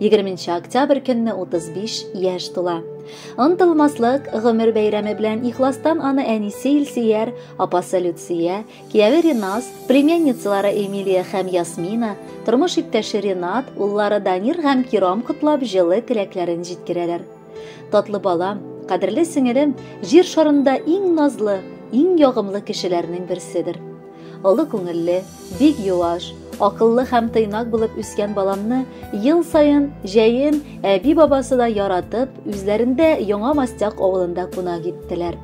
20 октябрь көнне 35 яшь тула. Онтылмаслык гомер бәйрәме белән ихластан аны әнисе Илсияр, апасы Люция, кияви Ринас, племянницалары Эмилия һәм Ясмина, тормыш иптәше Ренат, уллары Данир һәм Киром котлап җылы теләкләрен җиткерәләр. Татлы балам, кадерле сеңелем, җир шарында иң назлы, иң ягымлы кешеләрнең берседер. Олы күңелле, бик юаш, акыллы һәм тыйнак булып үскән баламны ел саен җәен әби бабасы да яратып, үзләрендә Яңа Мастяк авылында кунак иттеләр.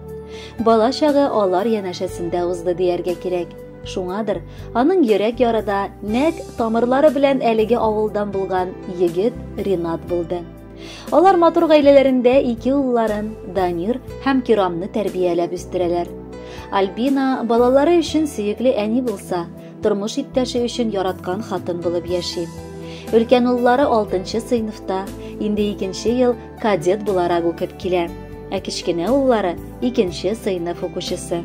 Бала чагы алар янәшәсендә узды дияргә кирәк. Шуңадыр, аның йөрәк ярыда нәк тамырлары белән әлеге авылдан булган егет Ринат булды. Алар матур гаиләләрендә ике улларын, Данир һәм Кирамны тәрбияләп үстерәләр. Альбина балалары өчен сөекле әни булса, тормыш иптәше өчен яраткан хатын булып яши. Өлкән уллары 6нчы сыйныфта, инде икенче ел кадет буларак укып килә. Ә кечкенә уллары икенче сыйныф укучысы.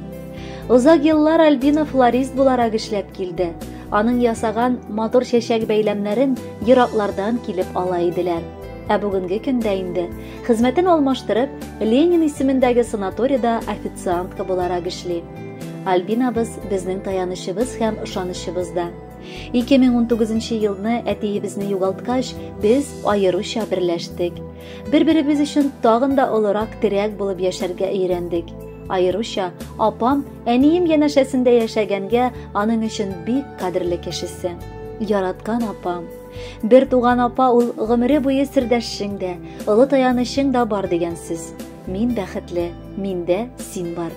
Озак еллар Альбина флорист буларак эшләп килде. Аның ясаган матур чәчәк бәйләмнәрен ераклардан килеп ала иделәр. Ә бүгенге көндә инде, хезмәтен алмаштырып, Ленин исемендәге санаторида официантка буларак эшли. Альбинабыз безнең таянычыбыз һәм ышанычыбыз да. 2019 елны әтиебезне югалткач, без аеруча берләштек. Бер-беребез өчен тагын да олырак терәк булып яшәргә өйрәндек. Аеруча апам әнием янәшәсендә яшәгәнгә аның өчен бик кадерле кешесе. Яраткан апам. Бер туган апа ул гомере буе сердәшшең дә, олы таянычың да бар дигән сүз. Мин бәхетле, миндә син бар.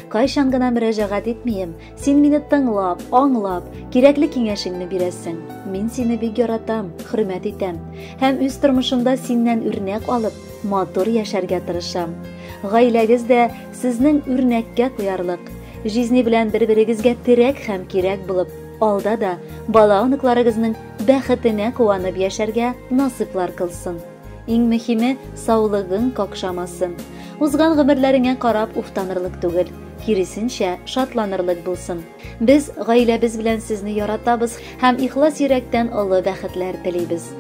Кайчан гына мөрәҗәгать итмием, Син мине тыңлап, аңлап, кирәкле киңәшеңне бирәсең. Мин сине бик яратам, хөрмәт итәм һәм үз тормышымда синнән үрнәк алып, матур яшәргә тырышам. Гаиләгез дә сезнең үрнәккә куярлык. Жизни белән бер-берегезгә терәк һәм кирәк булып, алда да бала-оныкларыгызның бәхетенә куанып яшәргә насыйплар кылсын. Иң мөһиме, саулыгың какшамасын. Узган гомерләреңә карап уфтанырлык түгел, киресенчә, шатланырлык булсын. Без гаиләбез белән сезне яратабыз һәм ихлас йөрәктән олы бәхетләр телибез.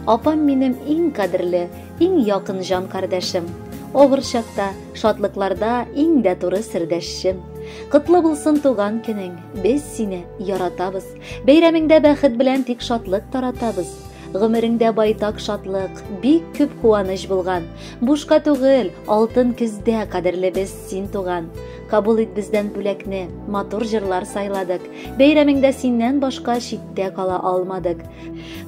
Апам минем иң кадерле, иң якын җан кардәшем. Авыр чакта, шатлыкларда иң дә туры сердәшчем. Котлы булсын туган көнең, без сине яратабыз. Бәйрәмеңдә бәхет белән тик шатлык таратабыз. Гомереңдә байтак шатлык, бик күп куаныч булган. Бушка түгел, алтын көздә кадерлебез син туган. Кабул ит бездән бүләкне, матур җырлар сайладык. Бәйрәмеңдә синнән башка читтә кала алмадык.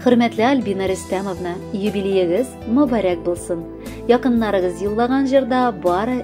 Хөрмәтле Альбина Рөстәмовна, юбилеегыз мөбарәк булсын. Якыннарыгыз юллаган җырда бары